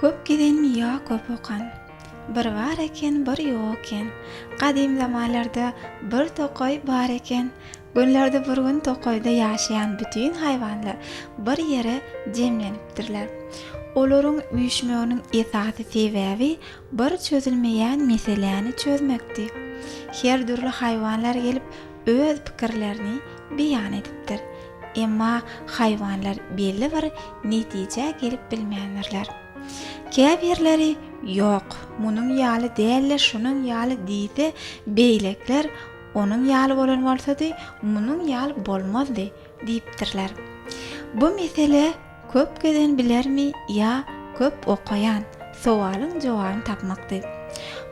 Köp gezen ýa köp okan. Bir bar eken, bir ýok eken. Gadym zamanlarda bir tokaý bar eken. Günlerde bir gün tokaýda ýaşaýan bütin haýwanlar bir ýere jemlenipdirler. Olaryň üýşmeginiň esasy sebäbi bir çözülmeýän meseläni çözmekdi. Her dürli haýwanlar gelip öz pikirlerini beýan edipdir. Emma haýwanlar belli bir netijä gelip bilmändirler. Käbirleri Ýok, munuň ýaly däl-de şunuň ýaly diýse, beýlekiler Onuň ýaly bolan bolsady, munuň ýaly bolmazdy diýipdirler. Bu mesele Köp gezen bilermi ýa köp okaýan? sowalyň jogabyny tapmakdy.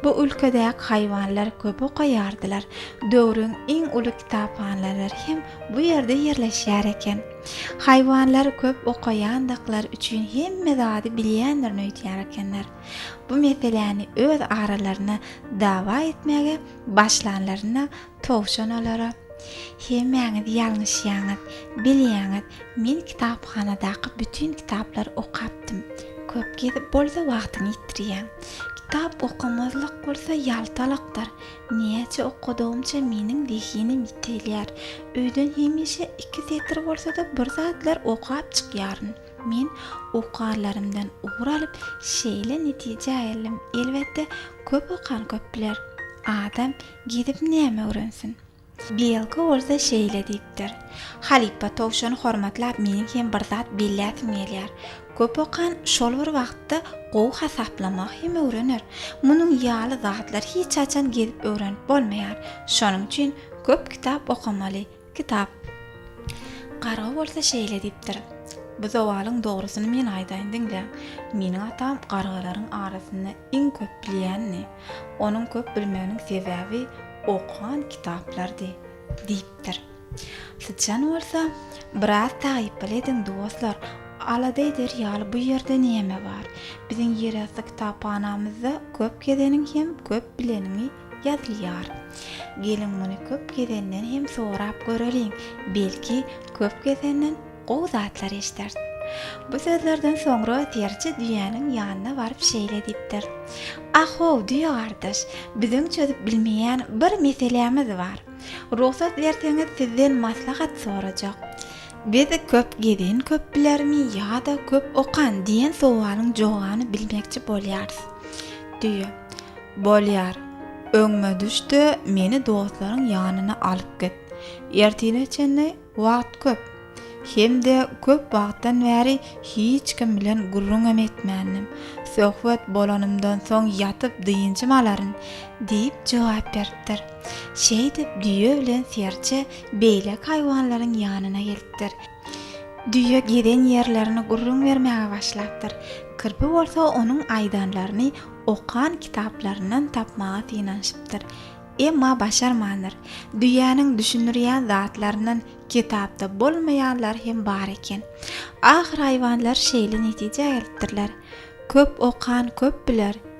Bu ülkedäki haýwanlar köp okaýardylar. Döwrüň iň uly kitaphanalary hem bu ýerde ýerleşýär eken. Haýwanlar köp okaýandyklary üçin hemme zady bilýändirini öýdýär ekenler. Bu meseläni öz aralaryna dawa etmäge başlanlarynda Towşan olara, Hemmäňiz ýalňyşýaňyz. Bilýäňiz, men kitaphanadaky bütin kitaplary okapdym. Köp gezip bolsa wagtyňy ýitirýäň. Kitap okamazlyk bolsa ýaltalykdyr. Näçe okadygymça meniň zehinim ýitelýär. Öýden hemişe iki setir bolsa-da bir zatlar okap çykýaryn. Men okarlarymdan ugur alyp, şeýle netijä geldim, elbetde, köp okan köp biler. Adam Gidip näme öwrensin? Bielko bolsa şeýle diýipdir, Halypa towşany hormatlap meniň hem bir zat belläsim gelýär. Köp okan şol bir wagtda gowy hasaplamagy hem öwrener. Munuň ýaly zatlary hiç haçan gezip öwrenip bolmaýar. Şonuň üçin köp kitap okamaly. Kitap. Garga bolsa şeýle diýipdir, Bu zowalyň dogrusyny men aýdaýyn diňläň. Meniň atam gargalaryň arasynda iň köp bilýändi. Onuň köp bilmeginiň sebäbi okan kitaplardy, diýipdir. Syçan bolsa, Biraz taýyply ediň, dostlar, alada eder ýaly bu ýerde näme bar? Biziň ýerasty kitaphanamyzda köp gezeniň hem köp bileniňi Ýazylýar. Geliň muny köp gezenden hem sorap göreliň, belki, köp gezenden gowy zatlar eşiders. Bu sözlerden soňra terje düýäniň ýanyna baryp şeýle diýipdir, A-how, düýe gardaş, biziň çözüp bilmeýän bir meselämiz bar. Rugsat berseňiz sizden maslahat sorajak. Biz köp gezen köp bilermi ýa-da köp okan diýen sowalyň jogany bilmekçi bolýarys. Düýe, Bolýar, öňüme düş-de, meni dostlaryň ýanyna alyp git. Ertire çenli wagt köp. Hem-de köp wagtdan bäri hiç kim bilen gürrüňem etmändim. Söhbet bolanymdan soň ýatyp dynjym alaryn, diýip jogap beripdir. Şeýdip, düýe bilen serçe beýleki haýwanlaryň ýanyna gelipdir. Düýe gezen ýerlerini gürrüň bermäge başlapdyr. Kirpi bolsa onuň aýdanlaryny okan kitaplaryndan tapmaga synanyşypdyr. Emma başarmandyr. Düýäniň düşündirýän zatlaryndan kitapda bolmaýanlary hem bar eken. Ahyr haýwanlar şeýle netijä gelipdirler, Köp okan köp biler.